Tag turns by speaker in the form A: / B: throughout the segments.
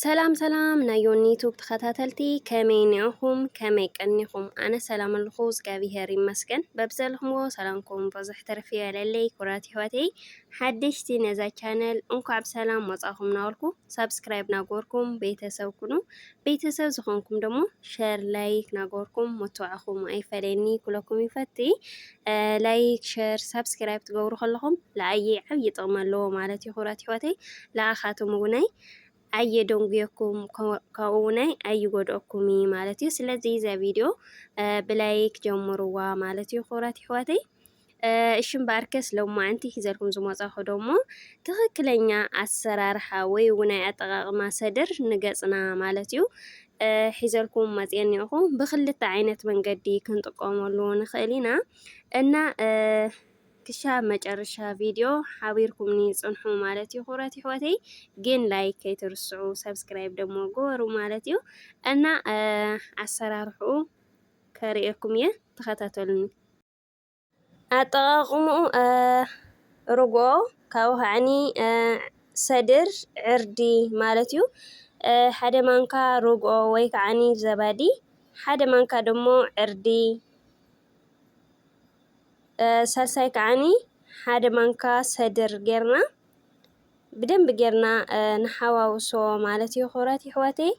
A: ሰላም ሰላም ናይ ዮኒ ዩቱብ ተኸታተልቲ ከመይ ኒዕኹም ከመይ ቀኒኹም ኣነ ሰላም ኣለኹ እግዚኣብሄር ይመስገን በብዘለኹምዎ ሰላምኩም ብዙሕ ተርፊ የለለይ ኩራት ይሕዋተይ ሓደሽቲ ነዛ ቻነል እንኳዕ ብሰላም ወፃኹም ናበልኩ ሳብስክራይብ ናጎርኩም ቤተሰብ ኩኑ ቤተሰብ ዝኾንኩም ደሞ ሸር ላይክ ናገበርኩም መተባዕኹም ኣይፈለየኒ ኩለኩም ይፈቲ ላይክ ሸር ሳብስክራይብ ትገብሩ ከለኹም ለኣየ ዓብዪ ጥቕሚ ኣለዎ ማለት እዩ ክብራት ይሕዋተይ ለኣኻቶም እውናይ ኣየደንጉየኩም ካብኡ እውናይ ኣይጎድኦኩም እዩ ማለት እዩ ስለዚ እዛ ቪድዮ ብላይክ ጀምርዋ ማለት እዩ ክብራት ይሕዋተይ እሺ እምበኣርከስ ሎማዕንቲ ሒዘልኩም ዝመጻኹ ደሞ ትኽክለኛ ኣሰራርሓ ወይ እውን ኣጠቓቕማ ሰድር ንገጽና ማለት እዩ ሒዘልኩም መጽኤ እኒኦኹ። ብክልተ ዓይነት መንገዲ ክንጥቀመሉ ንኽእል ኢና እና ክሻብ መጨረሻ ቪድዮ ሓቢርኩምኒ ጽንሑ ማለት እዩ። ክብረት ይሕወተይ ግን ላይክ ከይትርስዑ ሰብስክራይብ ደሞ ግበሩ ማለት እዩ እና ኣሰራርሕኡ ከርእየኩም እየ ተኸታተሉኒ። ኣጠቓቕምኡ ርግኦ ካብኡ ከዓኒ ሰድር ዕርዲ ማለት እዩ። ሓደ ማንካ ርግኦ ወይ ከዓኒ ዘባዲ፣ ሓደ ማንካ ደሞ ዕርዲ፣ ሳልሳይ ከዓኒ ሓደ ማንካ ሰድር ጌርና ብደንቢ ጌርና ንሓዋውሶ ማለት እዩ። ክብራት ይሕዋተይ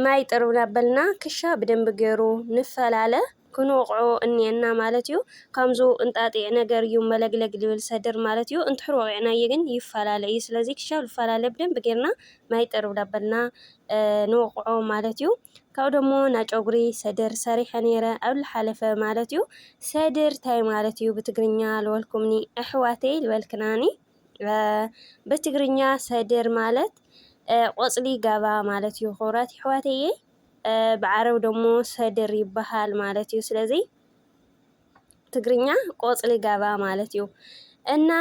A: ማይ ጥርብ ናበልና ክሻ ብደንቢ ገሩ ንፈላለ ክንወቕዖ እኒኤና ማለት እዩ ካምዙ እንጣጢዕ ነገር እዩ መለግለግ ልብል ሰድር ማለት እዩ እንትሕር ወቒዕናዬ ግን ይፈላለ እዩ ስለዚ ክሻ ልፈላለ ብደንቢ ገርና ማይ ጥርብ ናበልና ንወቕዖ ማለት እዩ ካብኡ ደሞ ናጨጉሪ ሰድር ሰሪሐ ነይረ ኣብ ልሓለፈ ማለት እዩ ሰድር ታይ ማለት እዩ ብትግርኛ ልበልኩምኒ ኣሕዋተይ ልበልክናኒ ብትግርኛ ሰድር ማለት ቆጽሊ ጋባ ማለት እዩ ክቡራት ይሕዋተየ ብዓረብ ደሞ ሰድር ይበሃል ማለት እዩ ስለዚ ትግርኛ ቆጽሊ ጋባ ማለት እዩ እና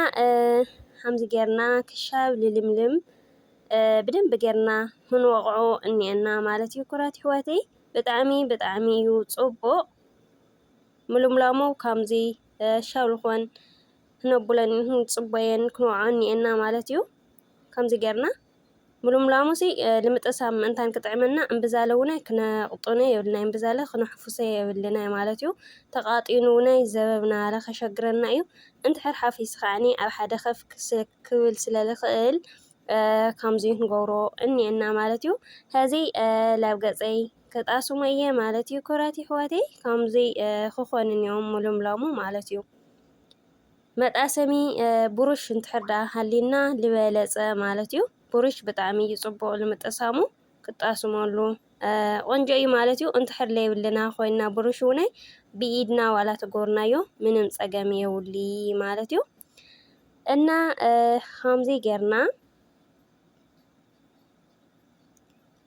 A: ከምዚ ጌርና ክሻብ ልልምልም ብደንብ ጌርና ክንወቕዖ እኒአና ማለት እዩ ኩራት ይሕዋተይ ብጣዕሚ ብጣዕሚ እዩ ጽቡቕ ምልምላሙ ከምዚ ሻብ ልኾን ክነቡለን ክንጽበየን ክንወዓኦን ኒኤና ማለት እዩ። ከምዚ ጌርና ምሉምላሙሲ ንምጥሳም ምእንታን ክጥዕመና እምብዛለ ውነ ክነቕጡነ የብልናይ እምብዛለ ክነሕፉሰ የብልናይ ማለት እዩ። ተቓጢኑ ውነ ዘበብናረ ከሸግረና እዩ። እንድሕር ሓፊሱ ከዓኒ ኣብ ሓደ ከፍ ክብል ስለ ልኽእል ከምዚ ክንገብሮ እኒኤና ማለት እዩ። ሕዚ ላብ ገጸይ ክጣስሞ እየ ማለት እዩ። ክብራት የሕዋተይ ከምዚ ክኾን እኒኦ ምሉምላሙ ማለት እዩ። መጣሰሚ ብሩሽ እንትሕር ደኣ ሃሊና ዝበለጸ ማለት እዩ። ብሩሽ ብጣዕሚ እዩ ጽቡቕ ንምጥሳሙ ክጣስመሉ ቆንጆ እዩ ማለት እዩ። እንትሕር ለይብልና ኮይና ብሩሽ እውነ ብኢድና ዋላ ተጎርናዮ ምንም ጸገም የውሊ ማለት እዩ እና ከምዚ ጌርና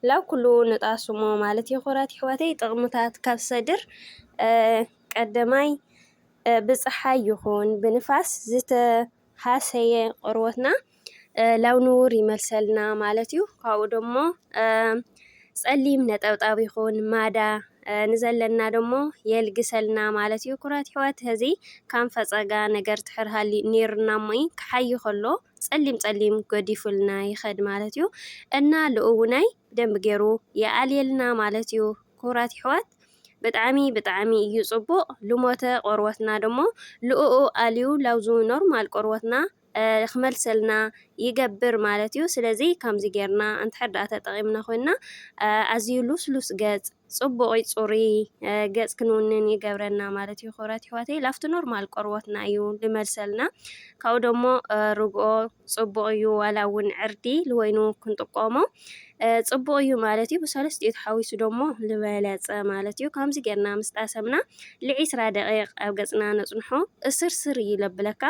A: ላብ ኩሉ ንጣሱሞ ማለት የኮራት ይሕዋተይ ጥቅምታት ካብ ሰድር ቀደማይ ብጽሓይ ይኹን ብንፋስ ዝተሃሰየ ቆርቦትና ላብ ንቡር ይመልሰልና ማለት እዩ ካብኡ ደሞ ጸሊም ነጠብጣብ ይኹን ማዳ ንዘለና ደሞ የልግሰልና ማለት እዩ ኩራት ይሕዋት ህዚ ካም ፈጸጋ ነገር ትሕር ሃሊ ኔርና እሞይ ክሓይ ከሎ ጸሊም ጸሊም ገዲፉልና ይኸድ ማለት እዩ እና ልኡውናይ ብደንብ ገይሩ ይኣልየልና ማለት እዩ ክቡራት ይሕዋት ብጣዕሚ ብጣዕሚ እዩ ጽቡቅ ልሞተ ቆርወትና ደሞ ልኡኡ ኣልዩ ላውዙ ኖርማል ቆርወትና ክመልሰልና ይገብር ማለት እዩ ስለዚ ከምዚ ጌርና እንተሕዳኣ ተጠቂምና ኮይና ኣዝዩ ሉስሉስ ገጽ ጽቡቕይ ጽሩይ ገጽ ክንውንን ይገብረና ማለት እዩ ክብረት ይሕዋተይ ላፍቲ ኖርማል ቆርቦትና እዩ ልመልሰልና ካብኡ ደሞ ርግኦ ጽቡቕ እዩ ዋላ እውን ዕርዲ ልወይኑ ክንጥቆሞ ጽቡቕ እዩ ማለት እዩ ብሰለስት እዩ ተሓዊሱ ደሞ ልበለጸ ማለት እዩ ከምዚ ጌርና ምስ ጣሰምና ልዒስራ ደቂቕ ኣብ ገጽና ነጽንሖ እስርስር እዩ ለብለካ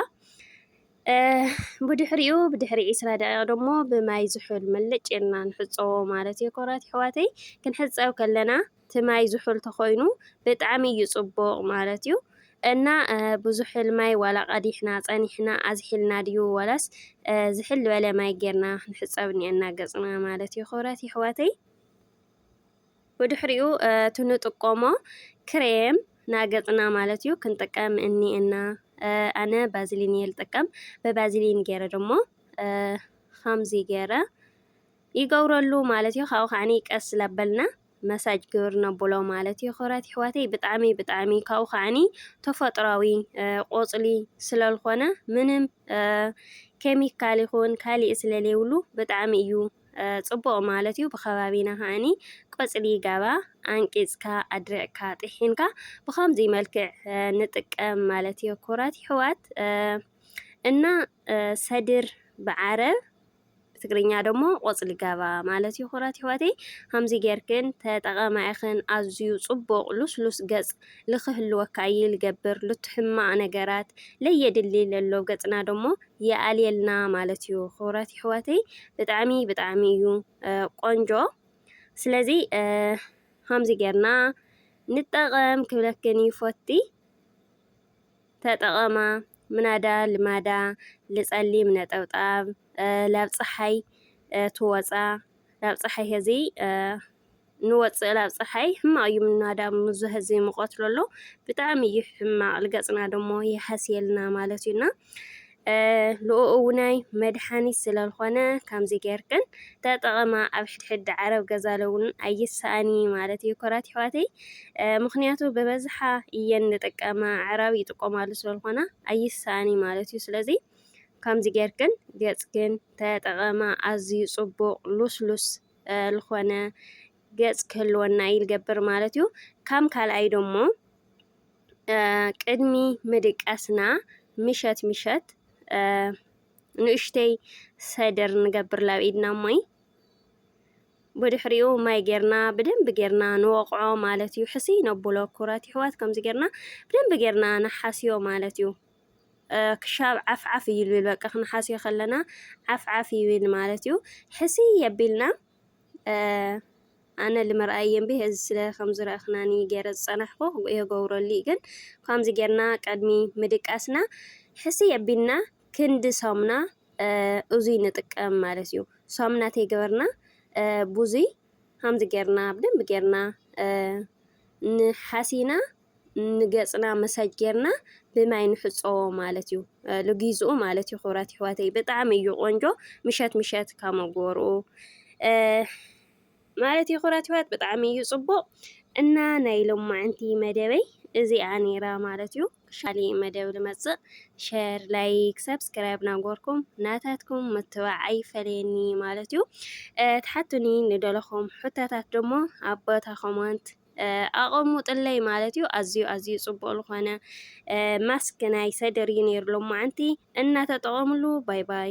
A: ብድሕሪኡ ብድሕሪ ዒስራ ደቂቅ ደሞ ብማይ ዝሑል ምልጭ ኢልና ንሕጸቦ ማለት እዩ ክቡራት ኣሕዋተይ ክንሕጸብ ከለና እቲ ማይ ዝሑል ተኾይኑ ብጣዕሚ እዩ ጽቡቅ ማለት እዩ እና ብዙሑል ማይ ዋላ ቀዲሕና ጸኒሕና ኣዝሒልና ድዩ ዋላስ ዝሕል ዝበለ ማይ ጌርና ክንሕጸብ እኒኤና ገጽና ማለት እዩ ክቡራት ኣሕዋተይ። ብድሕሪኡ እቲ ንጥቆሞ ክሬም ናገጽና ማለት እዩ ክንጥቀም እኒኤና ኣነ ባዝሊን እየ ልጥቀም ብባዝሊን ገይረ ደሞ ከምዚ ገይረ ይገብረሉ ማለት እዩ ካብኡ ከዓኒ ቀስ ላበልና መሳጅ ግብር ነብሎ ማለት እዩ ክብራት ይሕዋተይ ብጣዕሚ ብጣዕሚ ካብኡ ከዓኒ ተፈጥሯዊ ቆፅሊ ስለልኾነ ምንም ኬሚካል ይኹን ካሊእ ስለለይብሉ ብጣዕሚ እዩ ጽቡቕ ማለት እዩ። ብከባቢና ከኣኒ ቆጽሊ ጋባ ኣንቂጽካ ኣድሪቕካ ጢሒንካ ብከምዚ መልክዕ ንጥቀም ማለት እዩ ኩራት ይሕዋት እና ሰድር ብዓረብ ትግርኛ ደሞ ቆጽሊ ጋባ ማለት እዩ ኩራት ይሕዋተይ ከምዚ ጌርክን ተጠቐማ ኢኽን ኣዝዩ ጽቡቕ ሉስሉስ ገጽ ልክህልወካ እዩ ልገብር ልትሕማቕ ነገራት ለየድሊ ለሎ ገጽና ደሞ የኣልየልና ማለት እዩ ክብራት ይሕዋተይ ብጣዕሚ ብጣዕሚ እዩ ቆንጆ ስለዚ ከምዚ ጌርና ንጠቐም ክብለክን ይፎቲ ተጠቐማ ምናዳ ልማዳ ልጸሊም ነጠብጣብ ላብ ፀሓይ ትወፃ ላብ ፀሓይ ከዚ ንወጽእ ላብ ጸሓይ ሕማቅ እዩ ምናዳብ ምዙ ህዚ ምቖት ሎሎ ብጣዕሚ እዩ ሕማቅ ልገጽና ደሞ የሃስየልና ማለት እዩ እና ልኡእውናይ መድሓኒት ስለልኾነ ከምዚ ጌርክን ተጠቐማ ኣብ ሕድሕድ ዓረብ ገዛለውን ኣይሰኣኒ ማለት እዩ ኮራት ይሕዋተይ ምክንያቱ ብበዝሓ እየን ንጥቀማ ዓራብ ይጥቆማሉ ስለልኾና ኣይሰኣኒ ማለት እዩ ስለዚ ከምዚ ጌርክን ገጽክን ተጠቐማ ኣዝዩ ጽቡቕ ሉስሉስ ልኾነ ገጽ ክህልወና እዩ ልገብር ማለት እዩ። ካም ካልኣይ ደሞ ቅድሚ ምድቃስና ምሸት ምሸት ንእሽተይ ሰድር ንገብር ላብ ኢድና እሞይ ብድሕሪኡ ማይ ጌርና ብደንብ ጌርና ንወቕዖ ማለት እዩ። ሕስይ ነብሎ ኩራት ይሕዋት ከምዚ ጌርና ብደንብ ጌርና ንሓስዮ ማለት እዩ። ክሻብ ዓፍ ዓፍ እዩ ልብል በቃ ክንሓስዮ ከለና ዓፍ ዓፍ ይብል ማለት እዩ። ሕስይ የቢልና ኣነ ልምርኣይ የንቢ እዚ ስለ ከምዚ ረእኽናኒ ገይረ ዝጸናሕኩ የገብረሉ እዩ ግን ከምዚ ጌርና ቅድሚ ምድቃስና ሕስይ የቢልና ክንዲ ሰሙና እዙይ ንጥቀም ማለት እዩ። ሰሙና ተይገበርና ብዙይ ከምዚ ጌርና ብደንቢ ጌርና ንሓሲና ንገጽና መሳጅ ጌርና ብማይ ንሕጾ ማለት እዩ ልጊዝኡ ማለት እዩ ክብራት ይሕዋተይ ብጣዕሚ እዩ ቆንጆ ምሸት ምሸት ካብ መጎርኡ ማለት እዩ ክብራት ይሕዋት ብጣዕሚ እዩ ጽቡቅ እና ናይ ሎማዕንቲ መደበይ እዚኣ ነይራ ማለት እዩ ሻሊ መደብ ልመጽእ ሸር ላይክ ሰብስክራይብ ናጎርኩም ናታትኩም ምትባዕ ኣይፈለየኒ ማለት እዩ ትሓቱኒ ንደለኹም ሕቶታት ደሞ ኣብ ቦታ ኮመንት ኣቐሙጥለይ ማለት እዩ ኣዝዩ ኣዝዩ ጽቡቕ ዝኾነ ማስክ ናይ ሰደር እዩ ነይሩ ሎማዓንቲ እናተጠቐምሉ ባይ ባይ።